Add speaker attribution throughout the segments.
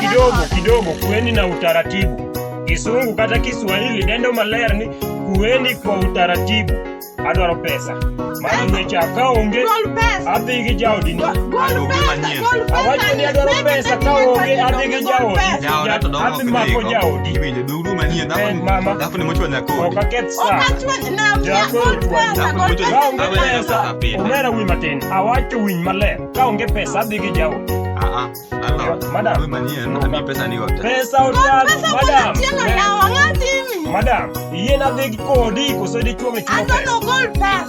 Speaker 1: kidogo kidogo, kuweni na utaratibu. Kisungu kata Kiswahili nendo maler ni kuweni kwa utaratibu. Adwaro pesa mano ngeche akaonge adhi gi jaodi ni awacho ni adwaro pesa kaonge adhi gi jaodi adhi mako jaodi huruma nie na eh, mama alafu nimechwa na kodi okaketsa okachwa na mia okachwa umera wi matin awacho winy maler ka onge pesa adhi gi jawo ah, ah, madam pesa otago madam madam yien adhi kodi koso dichuo mechuo pesa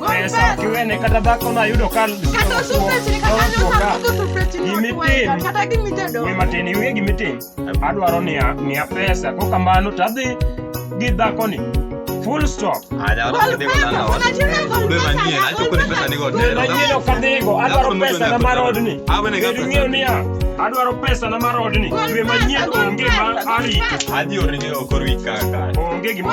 Speaker 1: pesa kiwene kata dhako no ayudo ka gimatin iwe gimitin adwaro ni miya pesa ko kamano to adhi gi dhakoni full stop manyien ok adhigo adwaro pesa na mar odni bedo ing'eyo niya adwaro pesa na mar odni dwe manyien onge ma arito onge gima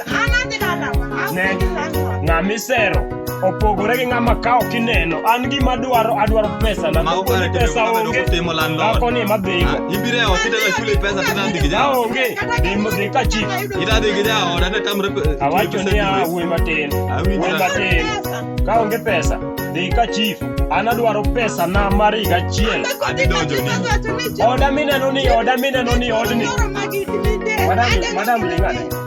Speaker 1: misero opogore gi ng'ama kawo kineno an gima dwaro adwaro pesa na kokoni pesa onge akoni ema dhigo aonge dhi ka chik awacho niya wuoyi matin wuoyi matin ka onge pesa dhi ka chief an adwaro pesa na mar higa achiel oda mineno ni oda mineno ni odni madam lingane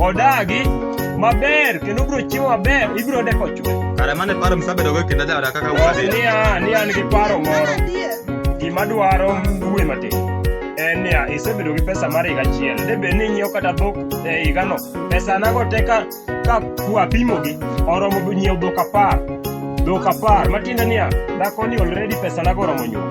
Speaker 1: odagi maber kendo bro chiwo maber ibro deko chwe kare mane paro msabedo go kendo jawada kaka wadi ni an ni an gi paro moro gima dwaro dwe matin en niya isebedo gi pesa mar higa achiel de bed ni inyiewo kata dhok e higano pesa nago te ka ka kwapimogi oromo nyiewo dhok apar dhok apar matiende niya dhakoni already pesa nago oromo nyuol